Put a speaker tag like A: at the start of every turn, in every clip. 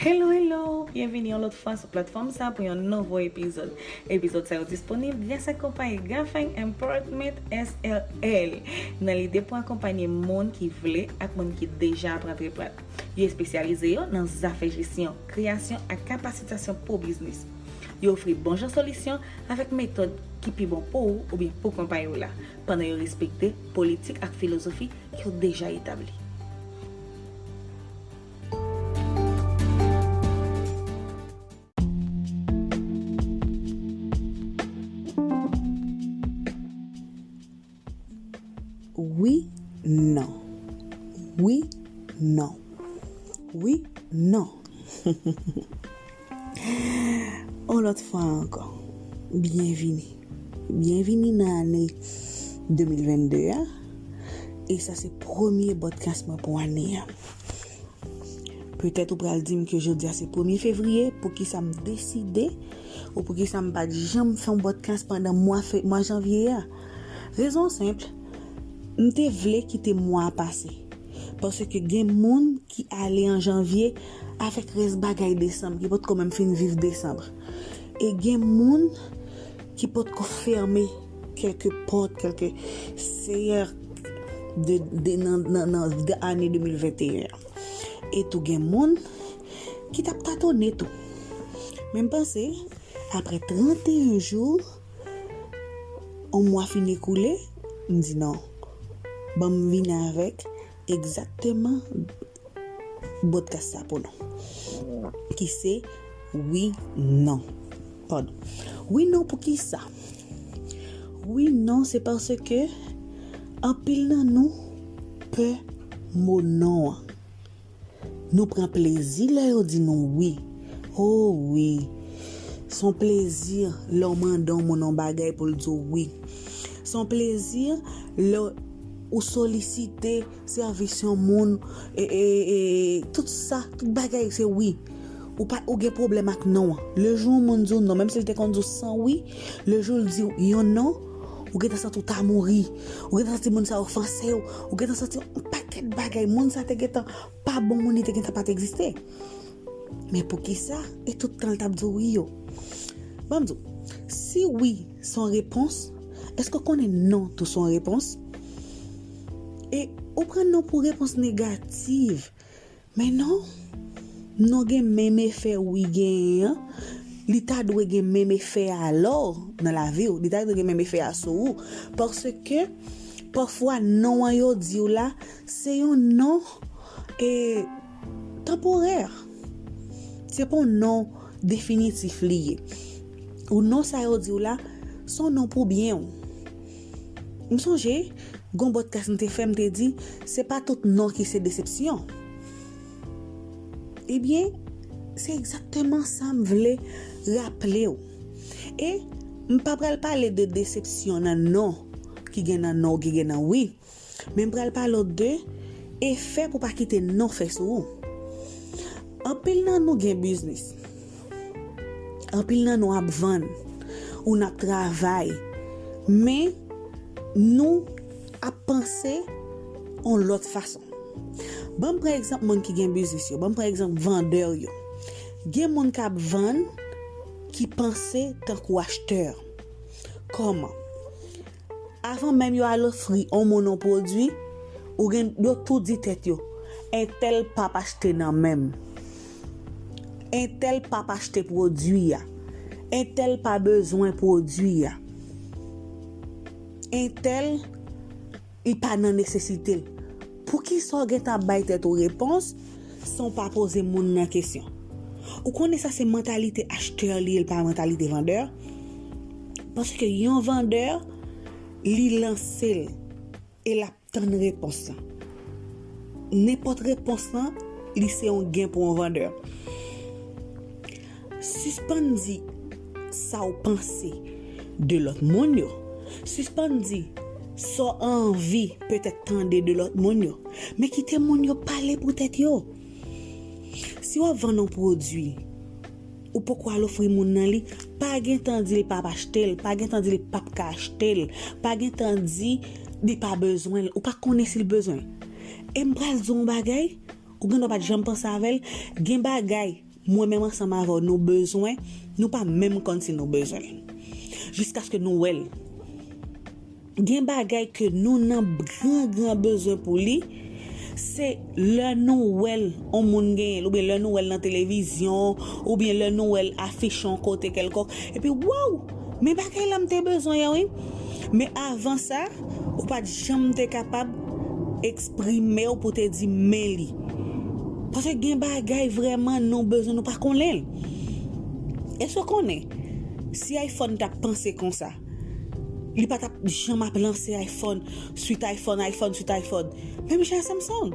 A: Hello hello, byenvini yon lòt fwa sou platfòm sa pou yon nouvo epizòd. Epizòd sa yo disponib gras ak konpayi Gafeng Importment SRL nan lide pou akonpanye moun ki vle ak moun ki deja ap rantre plat. Yo espesyalize yo nan zafè jesyon, kreyasyon ak kapasitasyon pou biznis. Yo ofri bon jan solisyon avèk metòd ki pi bon pou ou oubyen pou konpayi w la. pandan yo respekte politik ak filozofi ki yo deja etabli.
B: Wi Non Wi Non Wi Non Humm. On lòt fwa ankò, byenvini. Byenvini nan ane 2022 a, e sa se premye podcast mwen pou ane a. Petèt ou pral di m ke jodi a se premye fevriye, pou ki sa m deside, ou pou ki sa m pa t janm fè yon podcast pandan mwa fe, mwa janvye a. Rezon senpl, m te vle kite mwa a pase. Paske gen moun ki ale an janvye avèk rès bagay desanm ki potko menm fin viv desanm. E gen moun ki potko fèmen kèlke pòt, kèlke seyè nan ane 2021 an. E tou gen moun ki tap tatone tou. Men m panse apre 31 jou. On mwa fin ekoule, m di non. Ban m vin avèk egzakteman bodkas sa pou nou. Ki se wi non. Padon. Wi non pou ki sa? Wi non se paske anpil nan nou pè mo non an. Nou pran plezi lè yo di nou wi. O wi! S on plezi lè w mande yon moun yon bagay pou l di w wi. S on plezi lè ou solisite sèvis yon moun, tout sa, tout bagay se wi. Ou pa, ou gen pwoblèm ak non an. Le jou yon moun di w non, menm si l te konn di w san wi, le jou l di w yon non, Ou gentan santi w ta mouri. Ou gentan santi moun sa ofanse w. Ou gentan santi yon pakèt bagay. Moun sa te gentan pa bon moun, li te gentan pa t egziste. Men poukisa? E tout tan l t ap di w wi yo? Ban m di w, si wi se yon repons, èske w konnen non tou se yon repons? E ou pran non pou repons negativ. Men non, non gen menm efè wi genyen an, li ta dwe gen menm efè a lò nan laviw, li ta dwe gen menm efè a sou ou, paske pafwa non an yo diw la se yon non e tanporè, se pa yon non definitif li ye, ou non sa yo diw la son non pou byenw, M sonje, gon bòdkas m te fè m te di, se pa tout non ki se desepsyon. Ebyen, se egzakteman sa m vle raple w. E, m pa pral pale de desepsyon nan non ki gen nan non ou ki gen nan wi. Men m pral pale w de efè pou w pa kite non fè sou ou. Anpil nan nou gen biznis. Anpil nan nou ap vann. Ou n ap travay. Men, nou ap panse yon lòt fason. Ban m pran egzanp moun ki gen biznis yo. Ban m pran egzanp vandè yo. Gen moun k ap vann ki panse tankou achtè. Kòman? Avan menm yo al ofri on moun on pwodui, ou gen yo tou di tèt yo, entèl pap achte nan menm. Entèl pap achte pwodui a. Entèl pa bezwen pwodui a. Entèl li pa nan nesesite l. Poukisa w gentan ap bay tèt ou repons san w pa poze moun nan kesyon? Ou konnen sa se mantalite achtè li ye, li pa mantalite vandè. Paske yon vandè, li lanse l e l ap tann repons lan. Nenpòt repons lan, li se yon gen pou yon vandè. Sispann di sa w panse de lòt moun yo. Sispann di sa w anvi petèt tande de lòt moun yo. Men kite moun yo pale pou tèt yo. Si w ap vann yon pwodui, ou poko al ofri moun nan li, pa gen tan di l pa p achte l, pa gen tan di l pap ka achte l, pa gen tan di li pa bezwen l, ou pa konnen si l bezwen l. E m pral di w yon bagay, ou gen dwa pa t janm panse avè l, gen bagay Mwen menm ansanm avè w nou bezwen, nou pa menm konn si nou bezwen l. Jiskaske nou wè l. Gen bagay ke nou nan gran gran bezwen pou li, se lè nou wè l yon moun genyen l, oubyen lè nou wè l nan televizyon, oubyen lè nou wè l afich yon kote kèlkonk, epi waww! Men bagay la m te bezwen an wi! Men avan sa. Ou pat janm te kapab eksprimew pou te di men li. Paske gen bagay vreman nou bezwen nou pa konnenl. Eske ou konnen si iphone tap panse konsa li pa tap janm ap lanse iphone suit iphone iphone suit iphone menm jan a samsung.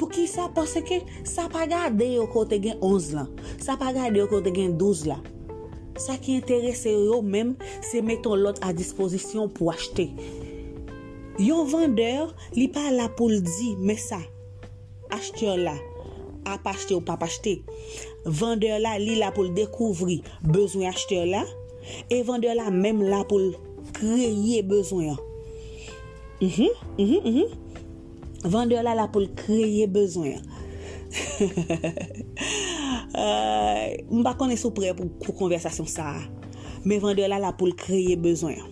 B: Poukisa paske sa pa gade yo kote gen 11 lan sa pa gade yo kote gen 12 la. Sa ki enterese yo yo menm se mete yon lòt a dispozisyon pou achte. Yon vandè, li pa la pou l di men sa achtè la ap achte ou pap achte. Vandè la, li la pou l dekouvri bezwen achtè la e vandè la menm la pou l kreye bezwen an. Mh mh mh. Vendeur la la pou l kreye bezwen an. Aayy m pa konnen si w prè pou konvèsasyon sa a. Men vendeur la la pou l kreye bezwen an.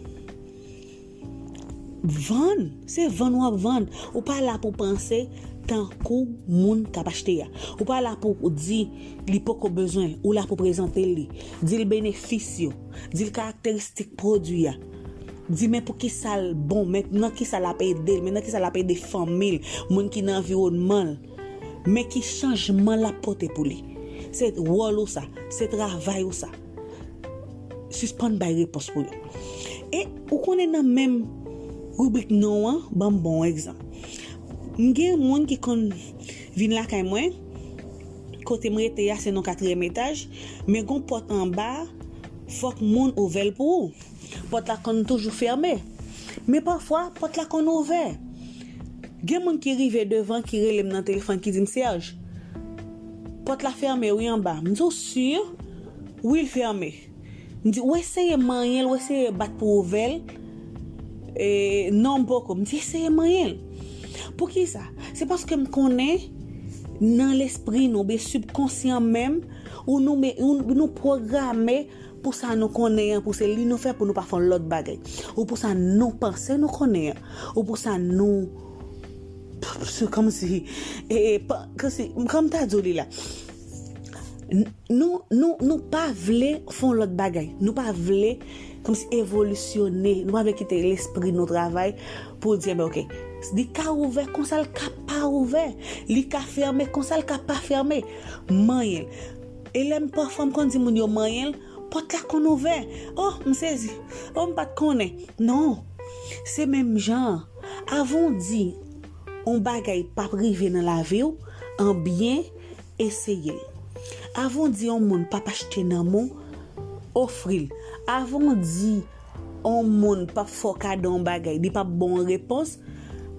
B: Vann, se vann w ap vann. Ou pa la pou panse tankou moun k ap achte a. Ou pa la pou di li poko bezwen, ou la pou prezante li. Di l benefis yo, di l karakteristik pwodwi a. di men pou kisa l bon, men nan kisa l ap ede l, men nan kisa l ap ede fanmi l, moun ki nan anviwònman l, men ki chanjman l ap pote pou li. Se wòl ou sa, se travay ou sa. Sispann bay repons pou yo. E ou konnen nan menm ribrik non an, ban m bon egzanp. M gen moun ki konn vin lakay mwen, kote m rete a se nan katriyèm etaj, men gen yon pòt anba, Fòk moun ouvè l pou ou. Pòt la konn toujou fèmen. Men pafwa, pòt la konn ouvè. Gen moun ki rive devan ki rele m nan telefòn ki di m, Serge, pòt la fèmen wi anba. M di, Ou si? Wi l fèmen. M di, Ou eseye manyen l, ou eseye bat pou w ouvè l? Non, m poko. M di, Eseye manyen l. Poukisa? Se paske m konnen nan lespri nou oubyen sibkonsyan menm, Ou nou me, ou nou pwograme pou sa nou konnen an, pou se li nou fè pou nou pa fè yon lòt bagay. Ou pou sa nou panse nou konnen an. Ou pou sa nou, se kòm si, e, e, pa, kòm si, kòm m ta di w li la, nou, nou, nou pa vle fè yon lòt bagay. Nou pa vle, kòm si, evolisyone. Nou pa vle kite lespri nou travay pou di enben oke. Li ka ouvè konsa l ka pa ouvè. Li ka fèmen konsa l ka pa fèmen. Manyen l. E lè m pafwa m konn di moun yo manyen l, pòt la konn ouvè. O, m sezi. O, m pa t konnen. Non. Se menm jan an, avan w di yon bagay p ap rive nan lavi w, an byen eseye l. Avan w di yon moun p ap achte nan men w, ofri l. Avan w di On moun pap fè w kado on bagay li pap ba w on repons,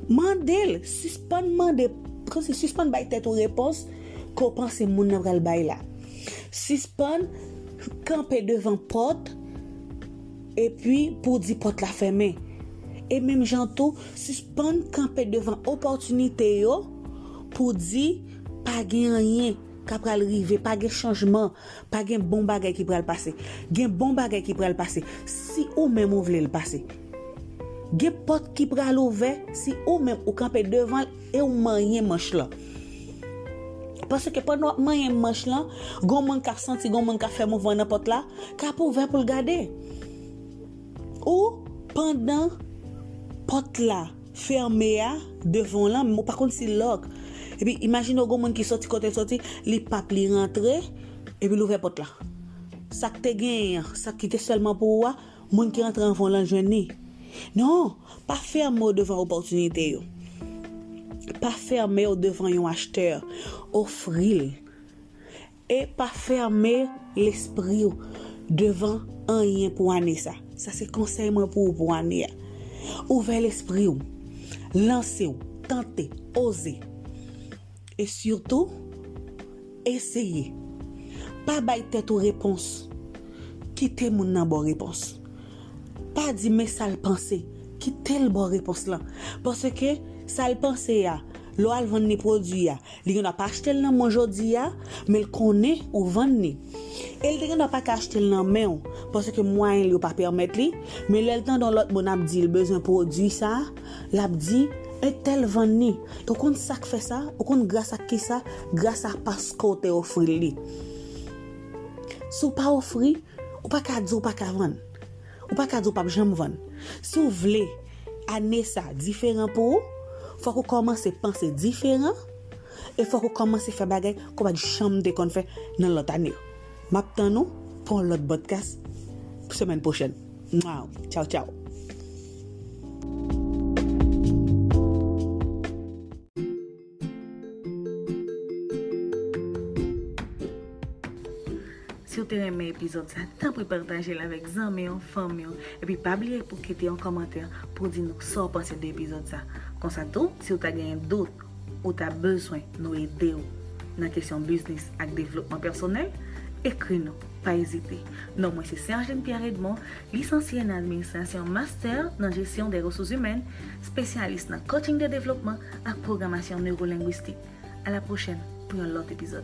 B: mande l, sispann mande, kòmsi sispann bay tèt ou repons ke w panse moun nan pral bay la. Sispann kanpe devan pòt epi pou w di pòt la fèmen. E menm jan tou, sispann kanpe devan opòtinite yo pou w di pa gen anyen ka pral rive, pa gen chanjman, Pa gen bon bagay ki pral pase. Gen bon bagay ki pral pase si ou menm ou vle l pase. Gen pòt ki pral ouvè si ou menm ou kanpe devan l e ou manyen manch lan. Paske pandan w ap manyen manch lan, gon moun k ap santi, gon moun k ap fè mouvman nan pòt la, k ap ouvè pou l gade. Ou pandan pòt la. fème a devanw lan men ou pa konn si l lòk epi imajine w gon moun ki sòti kotel sòti li pap li rantre epi l ouvè pòt la sak te genyen an sak ki te sèlman pou ou a moun ki rantre anvan w lan jwenn li non pa fème w devan opòtinite yo pa fème w devan yon achtè ofri l. E pa fème lespri w devan anyen pou ane sa. Sa se konsèy mwen pou ou pou ane a. Ouvè lespri w. Lanse w. Tante. Oze. E sitou, eseye. Pa bay tèt ou repons. Kite moun nan ba w repons. Pa di men sa l panse. Kite l ba w repons lan. Paske sa l panse a, lè w al vann li pwodui a, Li gen dwa pa achte l nan mwen jodi a, men l konnen ou vann li. E l te gen dwa pa ka achte l nan men w, paske mwayen l yo pa pèmèt li, men lè l tande yon lòt moun ap di l bezwen pwodui sa a, l ap di, Entèl vann li. E w konn sa k fè sa? Ou konn gras ak ki sa? Gras a paske w te ofri l li. Si w pa ofri, ou pa ka di w pa ka vann. Ou pa ka di ou pap janm vann. Si w vle ane sa diferan pou ou, fòk ou kòmanse panse diferan e fòk ou kòmanse fè bagay ke w pat janm te konn fè nan lòt ane yo. M ap tann ou pou yon lòt bòdkas semèn pwochèn. Mwaww! Tchaw tchaw!
A: Si w te renmen epizòd sa, tanpri pataje l avèk zanmi w, fanmi w, epi pa bliye pou w kite yon kòmantè pou w di nou sa w panse de epizòd sa. Konsa tou, si w ta genyen dout ou ta bezwen nou ede w nan kesyon biznis ak devlopman pèsonèl, ekri nou, pa ezite. Non mwen se Sergine Pierre Edmond, lisansye nan administrasyon, mastè nan jesyon dè resouzimèn, Spesyalis nan Coaching de Devlopman ak Pwogramasyon Neurolengwistik. A la pwochèn pou yon lòt epizòd.